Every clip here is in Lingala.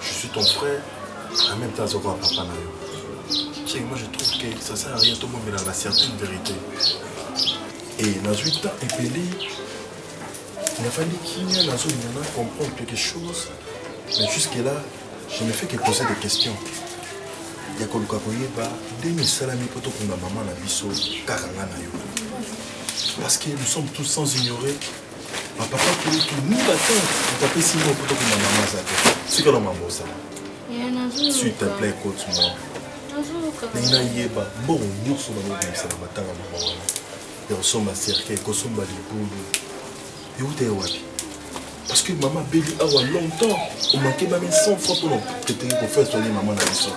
je suis ton frère en même temps azokoka papa na yo ce moi je trouve que ça sert à rien tomomelaka certaine vérité e nazwi temps epeli nafandi kimia nazolinga na comprendre quelque chose mais jusque là je ne fais que poser des questions ya koluka koyeba ndenge esalami mpo tokunda mama na biso kaka nga na yo parce que nous sommes tous sans ignorer Ma papa kulutu nunga te moto apesi ngo poto kuna mama aza te tika na mama osala s'il te plaît cote moi ndenge nayeba mbongo nyonso bamobimisa na matanga mama wana ya kosomba cercueil kosomba libulu euta ye wapi parce que mama abeli awa longtemps omake mame 100 fois mpona etengi kofere soigner mama na biso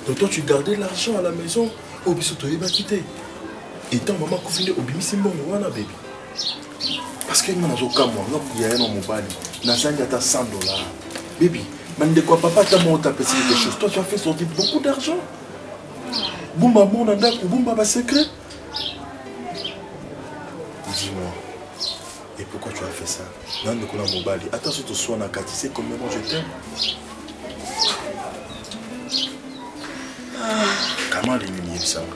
donc toi tu gardais l'argent à la maison oyo biso toyebaki te etant mama akufi nde obimisi mbongo wana bebi parce que nga nazokamwa nga yaya na mobali nazangi ata 100 dollars bibi bandeko ya papa ata moko tapesi quelque chose toi tu as fait sortir beaucoup d'argent bumba mor na ndako bumba basecret dis-moi et pourquoi tu as fait ça na ndeko na mobali ata so toswanaka tu sais combien moi je t'aime kama alingi miyebisanga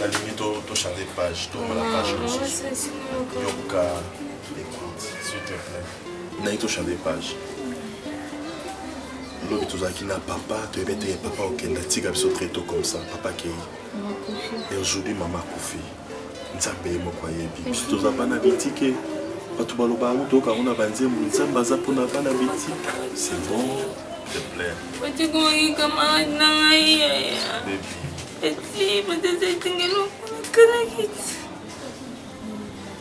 nalingi tochange page tomona page mosusu yoka écoute s'il te plaît nalingi tochange page lobi tozalaki na papa toyebi ete papa okenda tika biso très tôt comme ça papa kei et aujourd'hui mama akufi nzambe ye moko ayebi biso toza bana bitike bato baloba yango toyoka yango na banzembo nzambe aza mpo na bana bitike c'est bon te plaire otikomaki camarade na ngai yaya eti batata etingelokana kiti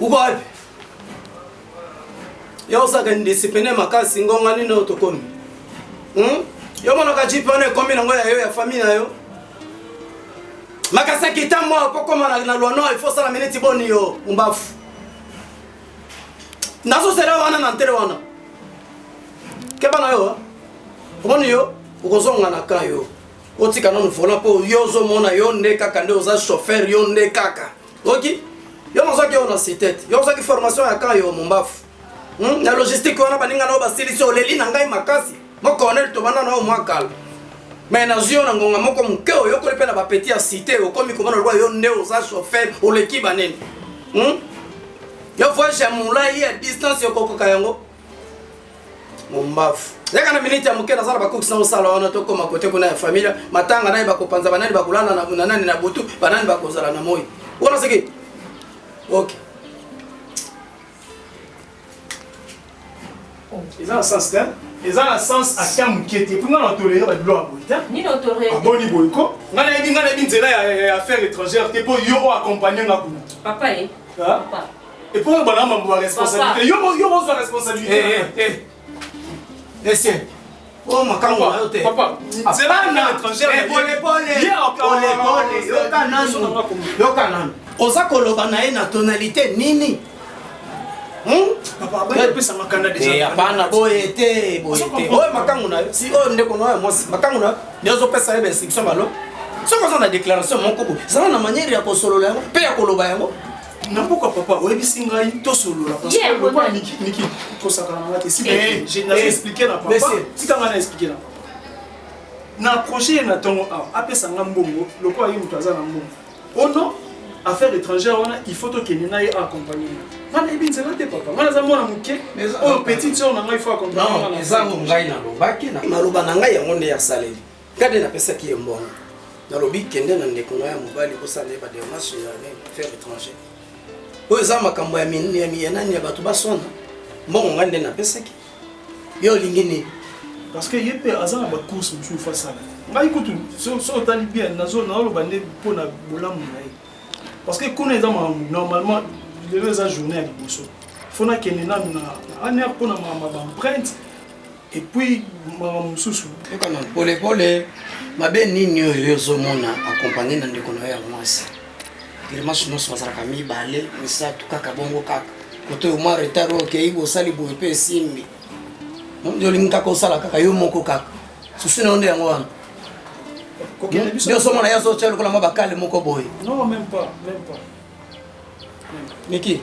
uko wapi yo osaka indiscipline makasi ngonga nini oyo tokomi hmm? yo monaka jipe wana ekomi nango ya yo ya famille na yo makasi akita mwa okokoma na lwano il faut osala miniti boni yo mbafu nazosela wana na ntere wana keba na yo omoni yo okozonga na ka yo otika nanu vola mpo yo ozomona yo nde kaka nde oza chauffeur yo nde kaka oki yo nazwaki yo na sitete yo ozwaki formation ya kan yo mombafu hmm? na logistique wana baninga na yo basilisi oleli na ngai makasi mokonel tobanda na yo mwa kala me nazwi yo na ngonga moko moke oyokoli mpe na bapeti ya site okomi komona lokola yo nde oza chauffeur oleki banene hmm? yo voyage ya molai ya distance okokoka yango mombavu yaka na miniti ya moke naza na bakokisi na osala wana tokoma kote kuna ya familia matanga nani bakopanza banani bakolala na nani na butu banani bakozala na moi wana seke ok eza na sens te eza na sens ata moke te mpo nga na tolere babilo ya boye te aboni boye ko nga nayebi nga nayebi nzela ya affaire étrangère te mpo yo oyo accompagne nga kuna papa ye eh? Et pour le bonhomme, on va responsabilité. Yo, yo, on va responsabilité. Eh, eh, eh. Essaye. Eh, Oh makambo na yo te. Papa, nzela na étranger. Eh, pole pole. Ye pole pole. Yoka nanu. Yoka nanu. Oza koloba na ye na tonalité nini? Hmm? Papa, ba pesa makanda déjà. Eh, hapana boye te, boye te. Oyo makango na yo. Si oyo ndeko na yo mwasi, makango na yo. Ndio zo pesa ye ba instruction balo. Soki oza na déclaration moko boye, zala na manière ya kosolola yango mpe ya koloba yango. na mboka papa oyebisi ngai tosolola parcelokola miki tosakana nga te si eh, nazo eh, explike na papa tika ngai na explike na papa na approche ye na ntongo awa apesa nga mbongo lokola ye moto aza na mbongo ono affaire étrangère wana il faut tokende na ye accompagne nga nga nayebi nzela te papa nga naza mwana moke oyo petite sœur na ngai il faut accompagne nga na ngai nalobaki naloba na ngai yango nde ya saleli Kade napesaki ye mbongo, nalobi kende na ndeko na ya mobali bosala ye bademarche ya faire étranger oyo eza makambo ya miyanani ya bato baswana mbongo ngai nde napesaki yo olingi nini parce que ye mpe aza na bacourse mosusu fasala ngai kutu soki otali bien nazoloba nde mpo na bolamu na ye parce que kuna eza makambo normalement lelo eza journée ya liboso fona kende nanu na aner mpo na makambo ya baemprinte Et puis makambo mosusu yoka na polepole mabe nini oyo yo ozomona akompagne na ndeko na yo ya mwasi grimace nyonso bazalaka mibale misato kaka bongo kaka koto oyo mwa retard oyo okei bosali boye mpe esimbi nde olingi kaka osala kaka yo moko kaka susi na yo nde yango wana nde ozomona ye azotya lokola mwa bakale moko boye miki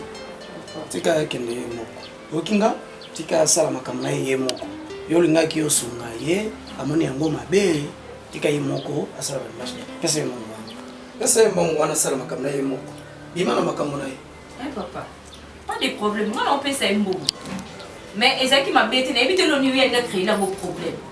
tika akende ye moko oyoki nga tika asala makambo na ye ye moko yo olingaki osunga ye amoni yango mabe tika ye moko asala bademarshe pesa ye mbongo wana pesa ye mbongo wana asala makambo na ye moko bima na makambo na ye eh, papa pas de problème mwana opesa ye mbongo mais ezalaki mabe te nayebi te loni yo yanga créela ngo problème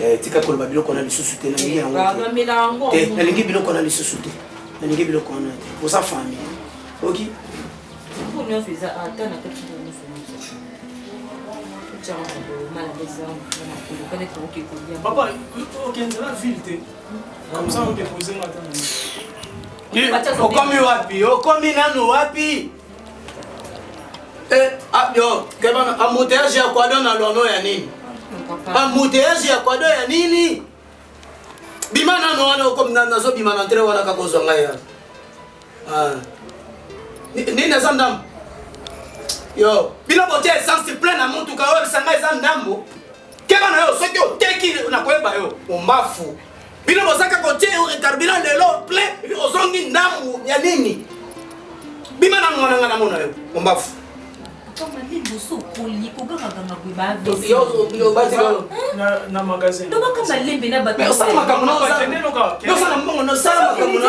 Eh, tika koloba biloko wana lisusu te nalingi yango te eh, nalingi biloko wana lisusu te nalingi biloko wana te oza fami oki okomi wapi okomi nanu wapi Eh, ah, yo, kebana, embouteillage ya kwado na lono ya nini? Embouteillage ya kwado ya nini? Bima nano wana okomi nazo bima na ntre wana kakozwa ngai ya. Ah. Nini eza ndambo? Yo, bino botia essence plein na motuka oyo bisanga eza ndambo. Kebana yo soki oteki nakoyeba yo, ombafu. Bino bozaka kotie yo carburant lelo plein epi ozongi ndambu ya nini? Bima na mwana nga na mona yo ombafu. na magasin tobaka malembe na bato osala makambo na osala mbongo na osala makambo na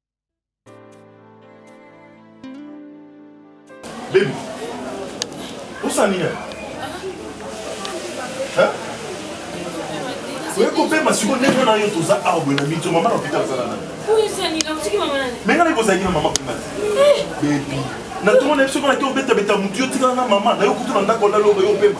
Baby, osali nini? oyekopema siko ndenge wana yo toza awa boye na mito mama na hôpital azala nani me ngai nakozalaki na mama kuna eh. bebi na ntongo na biso mpo nake obetabeta motu yo tikala na mama nayo kutu na ndako olaloba yo opema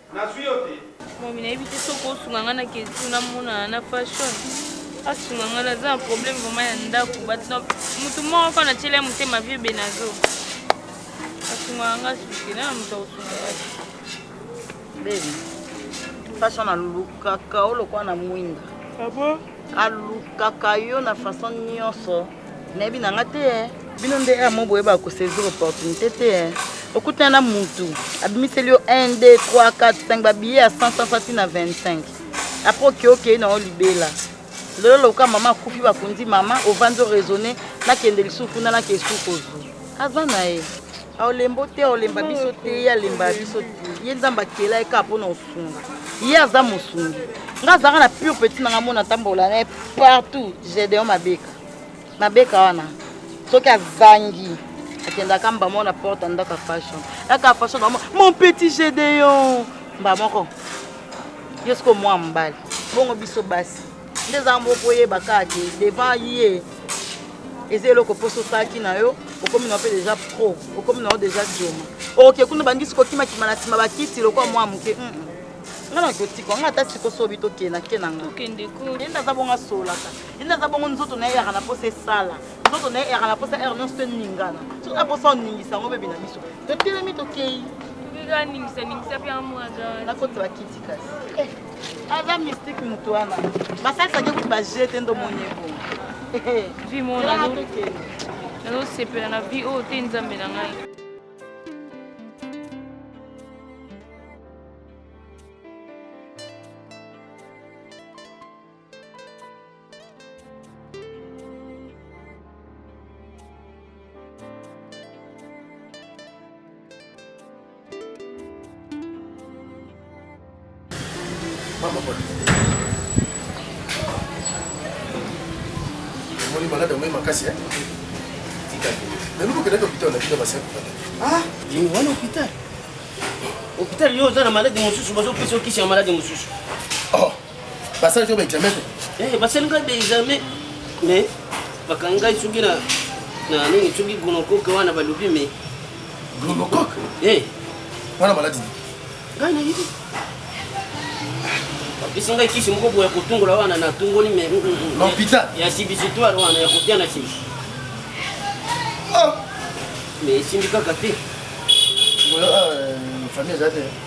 Nazwi yo te. Mami nayebi te soki osunga nga na ketu na mona na fashion. Asunga nga na za problème vraiment ya ndako. But no mutu moko ko na tiela motema vieux Benazo. Asunga nga suki na mutu asunga nga. Baby. Fashion alukaka olokwa na mwinda. Ah bon? Alukaka yo na façon nyonso. nayebi na nga te eh. bino nde amo boyeba kosaisir opportunité te eh. okutana na mutu abimiseli yo 1 2 3 4 5 babiye ya 100 sasa ti na 25 apres oke okei na yo libela lelo loka mama akufi bakundi mama ovandi oraisonne nakende lisusu kuna nake esuku ozwi aza na ye aolembo te aolemba biso te ye alemba biso te ye nzambe akela ye kaka mpona osunga ye aza mosungi nga azalaka na pure petit nanga mona atambola na ye partout gedeon mabeka na beka wana soki azangi akendaka mba moko na porte ya ndaka fashion ndaka fashion na mon petit gedeon mba moko yo siko mwa mbali bongo biso basi nde eza moko koyeba kaka te devant ye eza eloko mposo osalaki na yo okomi nao mpe deja pro okomi nao deja joma oke kuna bandisi kokimakima na nsima bakiti lokola mwa moke mm, mm. nga na kotika nga ata sikosobi tokenda kena nga aza bongo asolaka ina aza bongo nzoto na ye eyaka na mposa esala nzoto na ye eyaka na mposa heure nyonso toningana soki na mposa oningisa yango bebi na biso totelemi tokei nakoti bakiti kasi eh, aza mystique moto wana basalisaki kuti baje te ndo moni ebongo nazosepela na vie oyo te nzambe na ngai omoni malade omoi makasi naluki okendaki hôpital na bino basi wana hôpital hôpital yo oza na malade mosusu bazopesa okisi ya malade mosusu basali yo baexamen te eh, basali ngai baexamen mais bakangi ngai soki na nini soki gonokoke wana balobi me gonokoke eh. wana maladi ngai nayebi bapesi ngai kisi moko boya kotungola wana natungoli me mm, mm, mm, hôpital ya sibisitoire wana ya kotia na sima ah. mais esimbi kaka te euh, famille eza te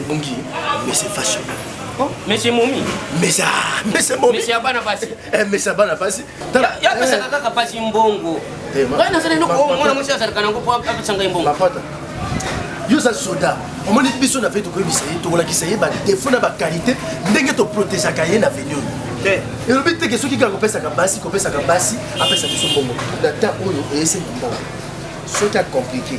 ebongi mese fashion oh, mese momi mesa mese momi mese ya bana basi eh mese ya bana basi tala ya pesa eh. kaka pasi mbongo eh, ngai nazala eloko oh, mwana mwasi azalaka nango mpo apesa ngai mbongo mapata yo oza soda omoni biso na ve tokoyebisa ye tokolakisa ye badefo na bakalite ndenge toprotegeaka ye na veni oyo eh. elobi teke soki kaka kopesaka basi kopesaka basi apesa biso mbongo na temps oyo eyese mbongo soki akomplike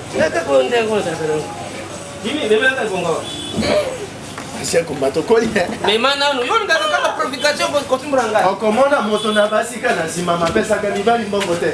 ancien combattant okoli mema nanu yo olingaka kaka profication kotimbola ngai okomona moto na basika na nsima mapesaka mibali mbongo te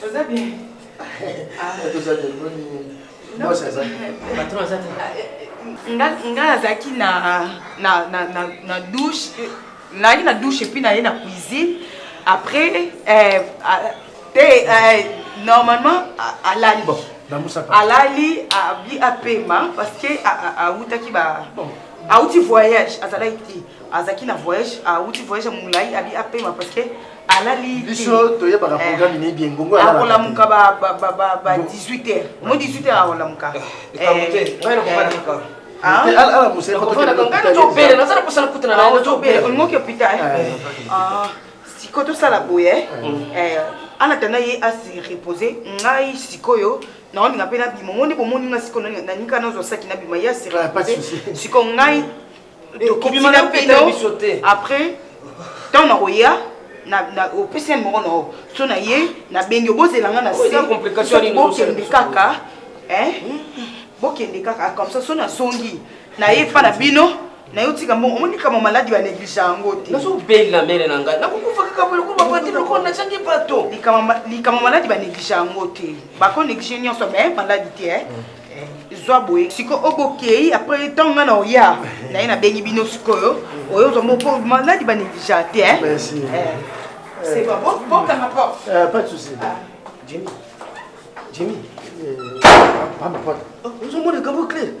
Toza bien. Ah, toza bien. Non, ça ça. Patron ça. Nga nga azaki na na na na na douche, na na douche et puis na na cuisine. Après euh, t'es euh, normalement à la bon. alali abi apema parce que awutaki ba awuti voyage azalaki te azalaki na voyage awuti voyage ya molai abi apema parce que alali biso toyebaka eh. programme ne bien ngongo akolamuka ba 18 heures mo 18 heures akolamuka olingoki opita siko tosala boye anatanda ye asi repose ngai sikoyo naoninga mpe nabima omoni bomoni nga siko naninga nazwa saki nabima ye asi repose siko ngai tokobima na bino après ntango nakoya opesi yango moko na yo so na ye nabengi obozela nga na se bokende kaka bokende kaka comme ça so nazongi na ye epa na bino na yo tika mbongo omoni kama maladi baneglige yango te nazobela mele na ngai nakokufa kaka boloko babati loko nazangi bato likambo maladi baneglige yango te bakoneglige nyonso me maladi te zwa boye siko o bokei après ntango nga na oya na ye nabengi bino sikoyo oyo ozwa moko maladi banegligea te eh. eh, c'est bon bokanga porte euh, pas de souci ah. jimmy jimmy pamba euh, porte oh, ozomona ekambo clé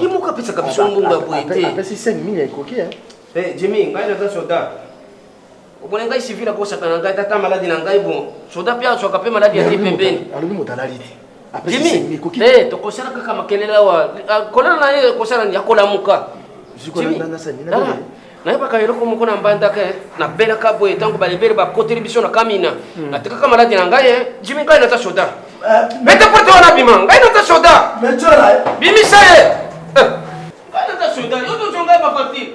ye moko apesaka biso mbongo ya boye te apesi 5 mille ekoki eh. eh, jimmy ngai naza soda Obona ngai civil akosaka na ngai tata maladi na ngai bon soda mpe azwaka mpe maladi ya te pembeni alobi moto alali te jimi eh, tokosala kaka makelele awa ah, kolala na ye kosala nini akolamuka nayebaka eloko moko na mbandaka eh. nabelaka boye ntango balebele bakoteli biso na kamina hmm. natekaka maladi na ngai eh. jimi ngai nata soda mete eh, pote wana bima ngai nata soda bimisa ye ngai nata soda yo tozongai bapatire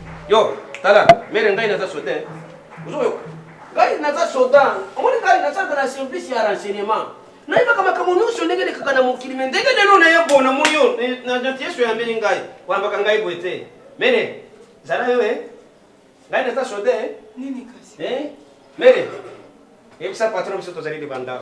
Yo, tala, mere ngai naza soda. Ozoyo. Ngai naza soda. Omoni ngai naza na service ya renseignement. Nayebaka makambo nyonso ndenge elekaka na mokili me ndenge lelo naye bo namoni yo na janti yesu oyambeli ngai oyambaka ngai boye te mere zala yo e ngai naza soda e mere yebisa patron biso tozali libanda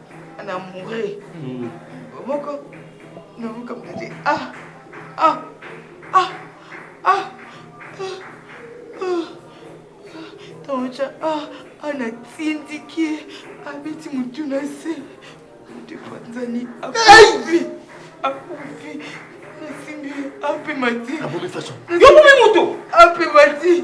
na moure hmm. moko nakokamata te ah ah ah ah taoca ah, ah, ah, ah natindiki abeti motu na se motu epanzani akufi akufi nasimbi ape mati ape mati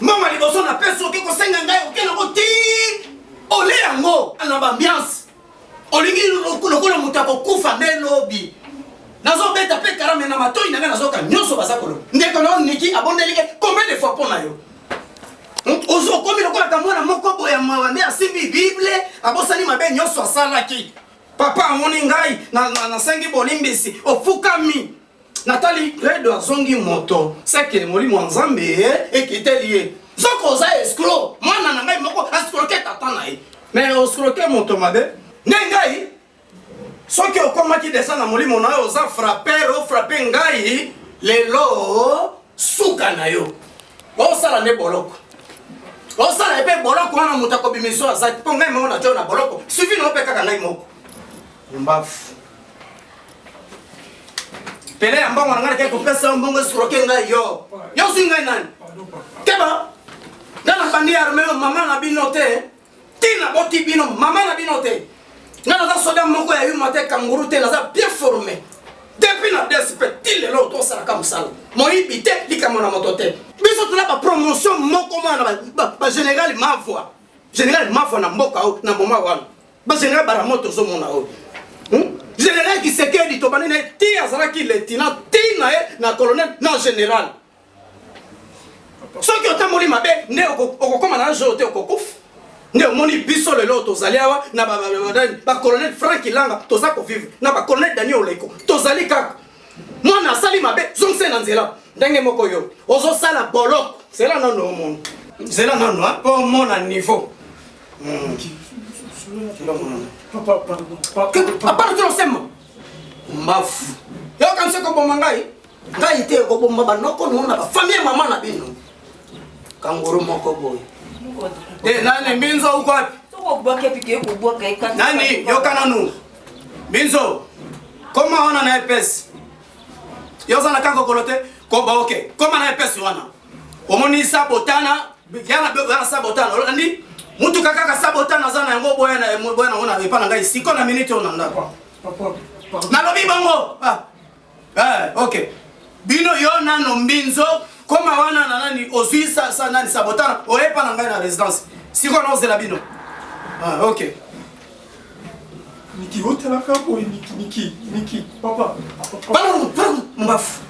mbongo liboso na pesa oke kosenga ngai oke nango ti ole yango na baambiance olingi lokola moto akokufa nde lobi nazobeta mpe karame na matoi na ngai nazoka nyonso baza koloba ndeko nao niki abondeli ke combien de fois mpo na yo hmm? ozokomi lokolaka mwana moko boye ya mawa nde asimbi bible abosani mabe nyonso asalaki papa amoni ngai nasengi bolimbisi ofukami natali redo azongi moto seke molimo ya nzambe eh, ekiteli ye soki oza escro mwana na ngai moko ascroke tata na ye mais oscroke moto mabe nde ngai soki okomaki desa na molimo na yo oza frapper ofrape ngai lelo suka na yo osala nde boloko osala epe boloko wana moto akobimiso azaki mpo ngai moko natyo na boloko suivi na yo mpe kaka ngai moko mbafu pele ya mbongo na ngai nakei kopesa yo mbongo esroke ngai yo yo ozwi ngai nani keba ngai nabandi arme yo mama na bino te ntina boti bino mama na bino te ngai naza soda moko ya yuma te kanguru te naza bien forme depuis na dsp ti lelo tosalaka mosala moyibi te likambo na moto te biso toza bapromotion moko mwana na bagénéral mavwa général mavwa na mboka o na moma wana Ba general Baramoto ozo mona oyo. Hmm? General Kisekedi to banene ti azalaki lieutenant ti na ye na colonel na general. Soki otamboli mabe nde okokoma na jour te okokufa. Nde omoni biso lelo tozali awa na ba colonel Frank Ilanga toza ko vivre na ba colonel Daniel Oleko tozali kaka mwana asali mabe zongisa na nzela ndenge moko yo ozosala boloko zela nano omona zela nano mpo omona niveau apart osema mbafu yokanisi koboma ngai ngai te ekobomba banoko noo na bafamille mama na bino kanguru moko boye nani mbinzo ukwapi nani yoka nanu Binzo, koma wana na epesi. Yo oza na kaka kokolo te? Koba oke, koma na epesi wana. Omoni sabotana, yana bebe yana sabotana, olandi? Mutuka kaka sabotana aza na yango boya na boya na yango na epa na ngai siko na minute oyo na ndako. Nalobi bongo. Ah. Eh, ok. Bino yo nano mbinzo koma wana na nani ozui sa sa nani sabotana oyepa na ngai na residence. Siko na ozela bino. Ah, ok. Niki otela ka boy niki niki niki papa. Papa. Papa, papa, mbafu.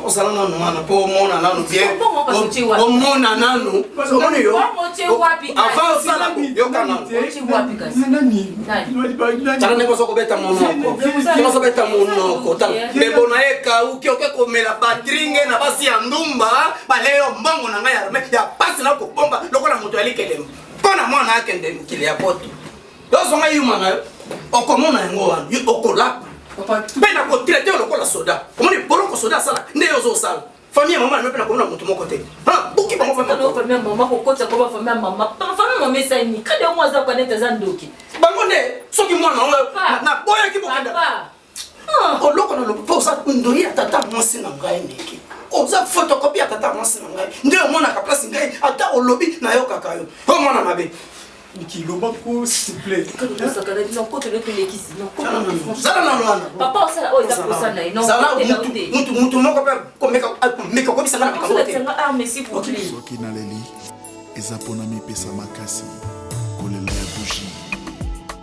osala nanu mwana mpo omona nanu bien omona nanu omoni yo avant osala yoka nanutala ndenge ozo kobeta monoko ndenge ozo beta monoko tala bebo na ye ekauki oke komela batringe na basi ya ndumba baleyo mbongo na ngai ya pasi na kobomba lokola moto ya likelemba mpo na mwana akende mokili ya poto Tozo nga yuma na yo. Okomona yango wana. Yo okolapa. Mpe na kotraite yo lokola soda. Omoni boloko soda asala nde yo ozosala. Famille ya mama na yo mpe nakomona moto moko te. Ah, buki bango famille. Kaka famille ya mama kokotisa koba famille ya mama. Famille mama esali nini? Kadi yango aza kwa nete aza ndoki. Bango nde soki mwana yango na boyaki bokenda. Ah. oloko na lobi mpo oza ndoyi ya tata mwasi na ngai ndeke oza fotokopi ya tata mwasi na ngai nde omonaka place ngai ata olobi nayokaka yo o mwana mabe kiloba ko souple zala na lwandamutu moko mpe komeka kobisaka na makambo te soki naleli eza mpona mipesa makasi kolela ya bugie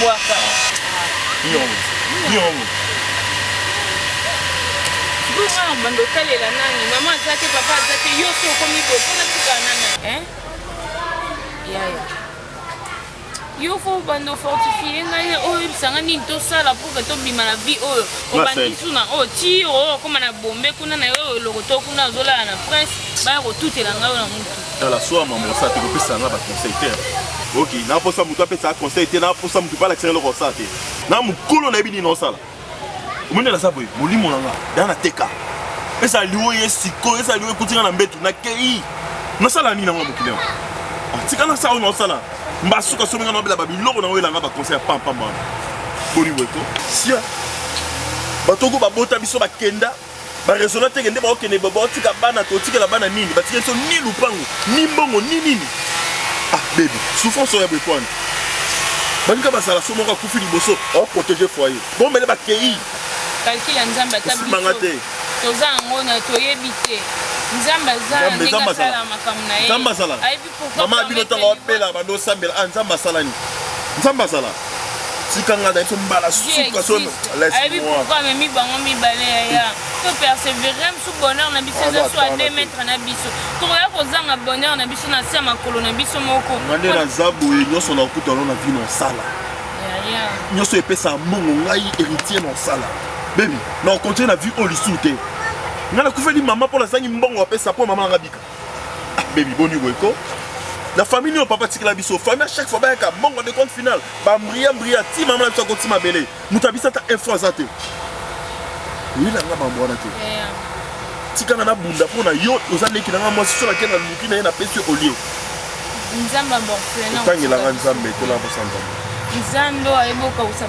Bwaka. Nyongo. Nyongo. Bongo bando otalela nani? Mama aza te, papa aza te, yo so okomi boye mpo na tika nani? Hein? Yaya. Yo fo bando fortifie ngai na oyo oyebisa ngai nini tosala mpo ke tobima na vie oyo. Obandi su na oyo ti oyo okoma na bombe kuna na yo eloko to kuna ozolala na prince baya kotutela ngai oyo na mutu. tala soa mama osala te kopesa nga baconseil te oki naposa moto apesaka conseil te naposa moto mpe alakisa eloko osala te na mokolo nayebi nini osala omoni naza boye molimo na nga da nateka ezala liwo ye sikoyo ezala liwo ekuti nga na mbetu nakei nasala nini yango mokili yango ah, tika nasala oyo naosala mbasuka somi nga naobela babiloko na oyelanga baconseil ya pampamba wana boni boye to sia bato oko babota biso bakenda ba raisonna te kende bakokende baotika bana totikela bana nini batikeli so ni lupango ni mbongo ni nini ah bebi souffrance oyo ya boye pwani balinga bazala so moko akufi liboso oprotege foyer bomele bakei kalkile ya nzambe ata biso toza yango na toyebi te nzambe aza ndenge asala makambo na ye mama bino ntango abela bando osambela a ah, nzambe asalani nzambe azala tika ngai na biso mbala suka so ayebi pourkui amemi bango mibale yaya to persévere mosu bonheur na biso eza so a 2 mètre na biso tokoya kozanga bonheur na biso na se ya makolo na biso moko ngande naza boye nyonso na okutano na vino osala nyonso epesaka mbongo ngai héritier na osala bebi na okontinue na vie oyo lisusu te ngai nakufeli mama mpo nazangi mbongo apesa mpo mama nanga bika Baby boni boye ko na famille nio papa tikela biso famille à chaque fois bayaka bongo de compte final ba mbria mbria ti mama na biso akoti mabele moto abisa ata info aza te oyela nga mambo wana te tikanga na bunda mpo na yo oza leki na nga mwasi so nake na luki na ye napesi yo olie nzambe amorphelin otangela nga nzambe tola bosanzambe nzambe oyo ayebi okausa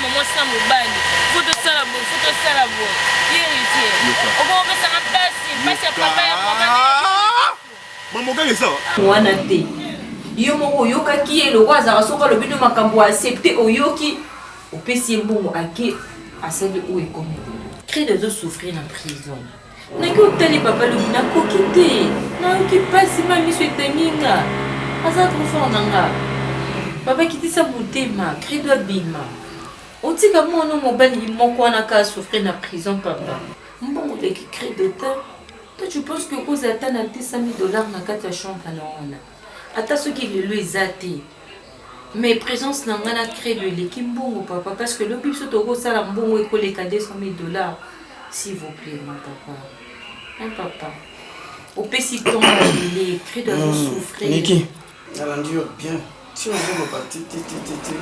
mwasi na mobali fo tosala boye fo tosala boye yerite okokopesaka mpasi mpasi ya papa ya mamogani eza mwana te yo moko oyokaki ye lokola azalaka soki alobi no makambo aaccepte oyoki opesi ye mbongo ake asali oyo ekomeli crede ezosouffrir na prison ndenge otali papa lobi nakoki te nayoki mpasi ma miso etangi nga aza trop fort na nga papa kitisa motema credo abima otika mwana mobali moko wana ka souffrir na prison papa mbongo oleki credo te to tu pense que okozala ata na 200 dollars na kati ya chambre na wana ata soki lelo eza te Mais presence na nga na credo eleki mbongo papa parce que lobi biso toko sala mbongo ekoleka 200 000 dollars s'il vous plaît mon papa mon papa opesi temps abele credo azo hmm, souffrir Niki nalandi yo bien ti ozoloba ti ti ti ti ti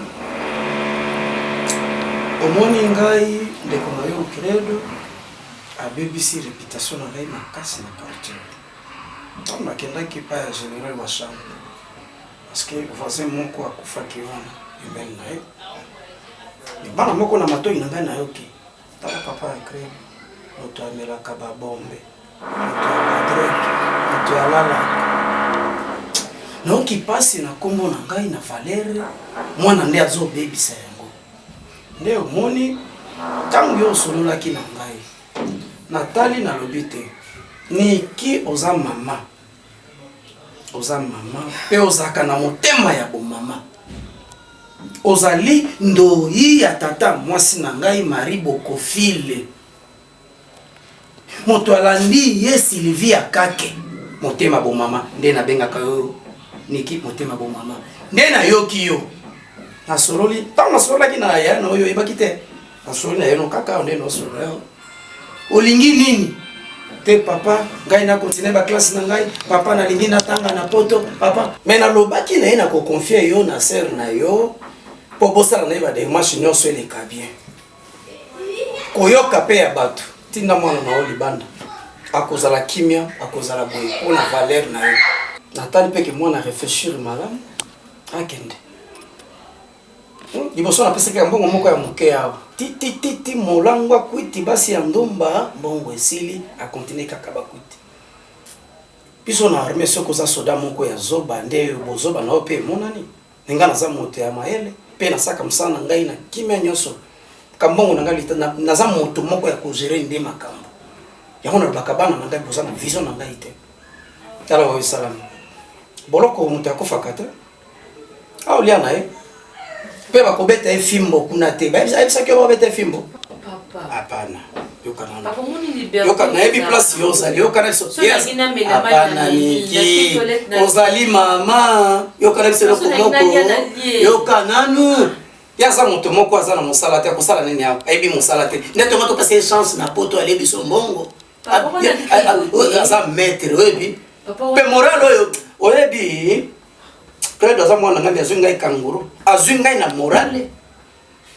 omoni ngai ndeko na yo credo abebisi reputation na ngai makasi na quartier ntango nakendaki epai ya général wa chambre Parce que voisin moko akufaki wana pembeni na ye libala moko na matoi na ngai nayoki tala papa ya creme moto amelaka babombe moto ya badrek moto ya lala nayoki mpasi na nkombo na ngai na valere mwana nde azobebisa yango nde omoni ntango yo osololaki na ngai natali nalobi te niki oza mama oza mama mpe ozalaka na motema ya bomama ozali ndoyi ya tata mwasi na ngai marie bokofile moto alandi ye silivia kake motema bomama nde nabengaka yo niki motema bomama nde nayoki yo nasololi ntango nasololaki na ya na oyo oyebaki te Nasoli na yo kaka nde nosolo yo. Olingi nini? Te papa, ngai na continuer ba classe na ngai. Papa nalingi natanga na poto. Papa, mais nalobaki na ye na ko confier yo na sœur na yo po bosala na ye ba démarche nyonso eleka bien. Koyoka pe ya bato. Tinda mwana na yo libanda. Akozala kimia, akozala boye po na valeur na yo. Natali pe ke mwana réfléchir malamu akende. liboso napesaki ya mbongo moko ya moke awa titititi molango akwiti basi ya ndumba mbongo esili akontinue kaka bakwiti biso na arme soki oza soda moko ya zoba nde bozoba na yo mpe emonani na ngai naza moto ya mayele mpe nasaka mosala na ngai na kimia nyonso kambongo na ngai lita naza moto moko ya kogere nde makambo yango nalobaka bana na ngai boza na vision na ngai te tala oyo esalami boloko moto akofaka te aolia na ye mpe bakobeta ye fimbo kuna te ayebisaki yo babeta ye fimbo hapana nayebi place yo ozali yokana biso hapana niki ozali mama yokana biso eloko moko yoka nanu ye aza moto moko aza na mosala te akosala nini ayebi mosala te nde tongo topesa ye chance na poto alie biso mbongo aza maître oyebi mpe moral oyo oyebi claude aza mwana ngai azwi ngai kanguru azwi ngai na morale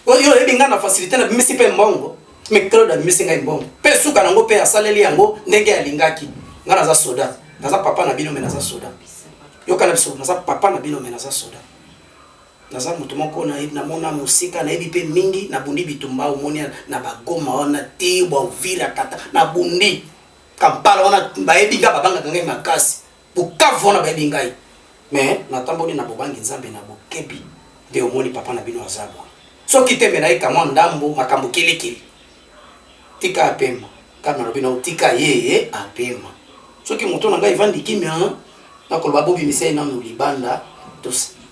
oyo oyebi ngai na facilité na bimisi mpe mbongo me claude abimisi ngai mbongo mpe suka nango mpe asaleli yango ndenge alingaki ngai naza soda naza papa na bino me naza soda yokana biso naza papa na bino me naza soda Naza mutu moko na na mona musika na yebi pe mingi na bundi bitumba omoni na ba goma wana te ba uvira kata na bundi kampala wana ba yebi nga ba banga ka ngai makasi bukavu wana ba yebi ngai mais na tamboli na bobangi nzambe na bokebi nde omoni papa na bino aza boye soki te me na yeka mwa ndambo makambo kilikili tika apema kama na lobi na otika ye apema soki moto na ngai evandi kimia nakoloba bobi misai nanu libanda tosi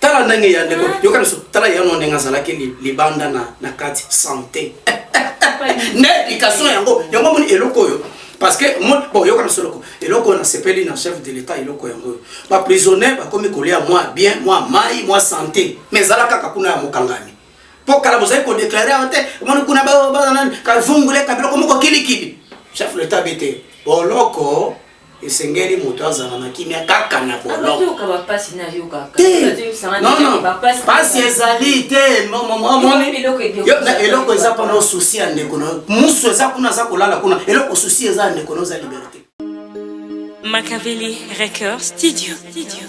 tala ndenge ya ndeko ah. yoka biso tala ya no ndenge azalaki libanda na na kati santé na éducation yango yango moni eloko oyo parce que bon yoka biso eloko eloko oyo nasepeli na chef de l'état eloko yango oyo baprisonnier bakomi kolia mwa bien mwa mai mwa santé mais ezala kaka kuna ya mokangami mpo kala bozali kodeklare yango te omoni kuna bazanani kavungule kabiloko moko kilikili chef de l'état bete boloko esengeli moto azala na kimia kaka na bolopasi ezali te eloko eza mpona osusi ya ndeko na musu eza kuna aza kolala kuna eloko susi eza ya ndeko na oza liberte Makaveli Record Studio.